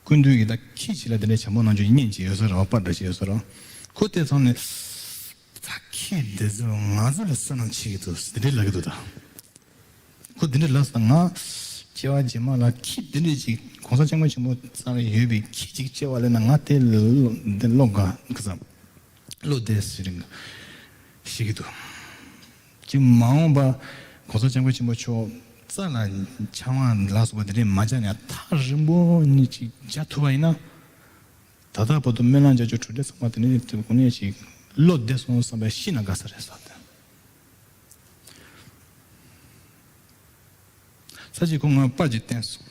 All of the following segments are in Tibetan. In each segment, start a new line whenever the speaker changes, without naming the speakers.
ཀུན་མཐུན་གྱིས་ད་ཁྱི་བྱི་ལ་དེ་འདྲའི་བྱམས་པོ་གནང་རྒྱུ་ཉིན་གཅིག་ཡོད་ས་རང་པར་འདྲ་ཞིག་ཡོད་ས་རང་ཁུ་བལྟས་ཚང་ནས་ད་ཁྱི་འདི་ཚོས་ང་ཚོ་ལ་བསོད་ནམས་བྱེད་ཀྱི་འདུག་ཟེར་དེ་འདྲའི་ལབ་ཀྱི་འདུག་ད་ཁུ་དེ་འདྲའི་ལབ་ས་ང་སྐྱེ་བ་རྗེས་མ་ལ་ཁྱི་དེ་འདྲའི་ཅིག་གོང་ས་ལྕགས་མོ་ཆེན་པོ་ཚང་ལ་ཡོད་པའི་ཁྱི་ཅིག་སྐྱེ་བ་ལེན་ན་ང་དེ་ལོ་འགའ་བསམ་བློ་བདེ་ཟེར་ཞིག་གི་འདུག། ཀྱི་མ་འོངས་པ། གོང་ས་སྤྱང་པོ་ཆེན་པོ་མཆོག་རྩ་ལ་འཆང་བ་ལ་སོགས་པ་དེ་འདྲས་མ་བྱས་ནས་ཐག་རིང་པོ་ནས་ཅིག་བྱ་ཐུབ་པ་ཡིན་ན། ད་ལྟ་བར་དུ་སྨོན་ལམ་བྱ་རྒྱུ་གྲུབ་འབྲས་ཚང་མ་དེ་འདྲས་ཐུབ་གོང་ནས་ཅིག་བློ་བདེ་སོང་བསམ་པའི་ཤི་ན་དགའ་ས་རེད་ཟེར། ས་གཅིག་གོ་ང་པར་གྱིས་བསྟན་སོང།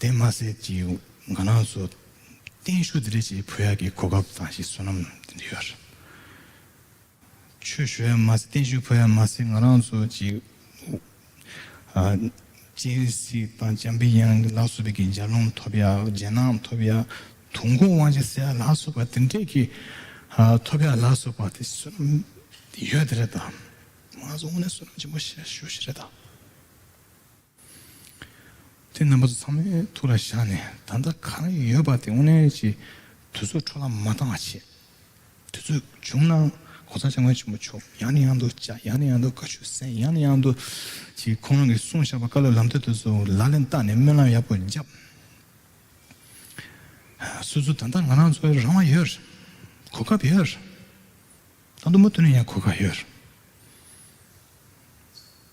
དེ་མ་ཟད་ཀྱི་ང་རང་སུ་བརྟན་བཞུགས་དེ་རེད་ཅེས་བོད་ཡག་གི་གོ་སྐབས་དང་ཞིག་བསོད་ནམས་དེ་འདི་ཡོད་རེད། ཆོས་ཞུ་ཡག་མ་ཟད་བརྟན་བཞུགས་བོད་ཡག་མ་ཟད་ང་རང་སུ་ཅིག་སྤྱན་གཟིགས་དང་བྱམས་པའི་ཡང་ལག་བསུ་བའི་གི་འཇའ་ལུང་ཐོབ་ཡག་རྗེས་གནང་ཐོབ་ཡག་དུང་སྐོང་དབང་ཆེན་བསེ་ཡག་ལག་བསུ་བ་དེ་འདྲས་ཀྱི་ཐོབ་ཡག་ལག་བསུ་བ་དེ་བསོད་ནམས་དེ་ཡོད་དེ་རེད་ད། ང་ཚོ་དངོས་གནས་བསོད་ནམས་ཆེན་པོ་ཞིག་ཞུ་ཞིག་རེད་ད། དེ་རྣམ་པ་ཚོ་ཚང་མའི་ཐུགས་ལ་བཞག་ནས་ད་ལྟ་ག་རེ་ཡོད་པ་དེ་དབུ་ནན་གྱིས་དུས་ཚོད་འཕྲོ་བརླག་མ་གཏང་བ་བྱེད། དུས་ཚོད་བྱུང་ན་གོ་ས་ཆ་མགོན་ཆེན་པོ་མཆོག་ཡང་ནས་ཡང་དུ་བཅའ་ཡང་ནས་ཡང་དུ་དགའ་ཤོས་གསན་ཡང་ནས་ཡང་དུ་གྱིས་ཁོང་རང་གིས་གསུངས་བཞག་པ་བཀའ་སློབ་ལམ་སྟོན་དེ་ཚོ་ལག་ལེན་བསྟར་ནས་སྨོན་ལམ་ཡག་པོ་བརྒྱབ། སུ་ཚོད་ད་ལྟ་ང་རང་ཚོའི་རང་དབང་ཡོད། གོ་སྐབས་ཡོད། ད་དུ་མུ་མཐུད་ནས་ཡང་གོ་སྐབས་ཡོད།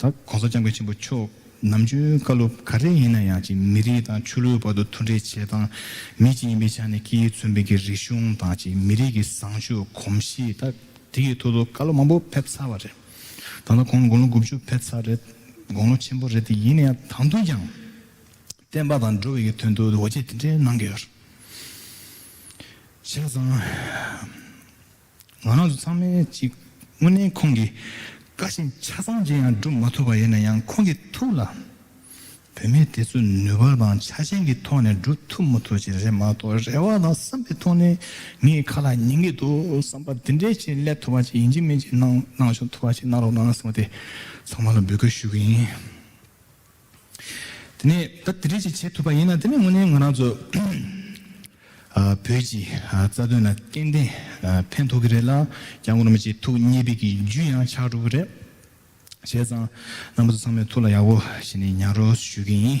གོང་ས་སྐྱབས་མགོན་ཆེན་པོ་མཆོག་ནམ་རྒྱུན་བཀའ་སློབ་ག་རེ་ཡིན་ན་ཡང་གཅིག་མི་རིགས་དང་ཆོས་ལུགས་བར་དུ་མཐུན་འབྲེལ་བྱེད་སྟངས་མི་གཅིག་ཡིན་པའི་ཆ་ནས་སྐད་ཡིག་མཚོན་དཔེ་གྱི་རིག་གཞུང་དང་གཅིག་མི་རིགས་ཀྱི་བཟང་སྤྱོད་གོམས་གཤིས་ད་དེ་ཡི་ཐོག་ཏུ་བཀའ་སློབ་མང་པོ་ཕེབས་ཚར་བ་རེད། ད་ལྟ་ཁོང་དགུང་ལོ་དགུ་བཅུ་ཕེབས་ཚར་རེད། དགུང་ལོ་ཆེན་པོ་རེད་དེ་ཡིན་ན་ཡང་ད་དུང་ཀྱང་བསྟན་པ་དང་འགྲོ་བའི་ཀྱི་དོན་དུ་འོ་བྱེད་དེ་འདྲའི་གནང་གི་ཡོད། བྱས་ཙང། ང་རང་ཚོ་ཚང་མས་ཅིག་དངོས་གནས་ཁོང་གི་བཀའ་བཞིན་ཆ་ཚང་ཅི་ཡང་སྒྲུབ་མ་ཐུབ་པ་ཡིན་ན་ཡང་ཁོང་གི་ཐུགས་ལ་བོད་མི་དེ་ཚོ་ནུས་པ་དང་ཆ་ཅན་གྱི་ཐོག་ནས་སྒྲུབ་ཐུབ་མ་ཐུབ་ཅིག་རེད་མ་གཏོགས་རེ་བ་དང་བསམ་པའི་ཐོག་ནས་ངའི་ཁ་ལ་ཉན་གྱི་འདུག་བསམ་པ་དེ་འདྲས་ཅིག་སླེབས་ཐུབ་པ་ཅིག་ཡིན་གྱི་མིན་གྱི་གནང་གནང་ཞོག་ཐུབ་པ་ཅིག་གནང་རོགས་གནང་གསུངས་ཏེ་ཚང་མ་ལ་འབོད་སྐུལ་ཞུ་གི་ཡིན། དེ་ནས་ད་དེ་འདྲས་ཅིག་བྱེད་ཐུབ་པ་ཡིན་ན་དེ་ནི་དངོས་གནས་ང་རང་ཚོ་བོད་ཀྱི་རྩ་དོན་ལ་སྐྱེན་ལྡན་ཕན་ཐོགས་ཀྱི་རེད་ལ་རྒྱ་གོར་མི་བཅས་ཐུགས་མཉེས་པའི་གི་རྒྱུ་ཡང་ཆགས་འགྲོ་གི་རེད། བྱས་ཙང་རྣམ་པ་ཚོ་ཚང་མའི་ཐུགས་ལ་ཡག་པོ་བྱས་ནས་ཉར་རོགས་སུ་ཞུ་གི་ཡིན།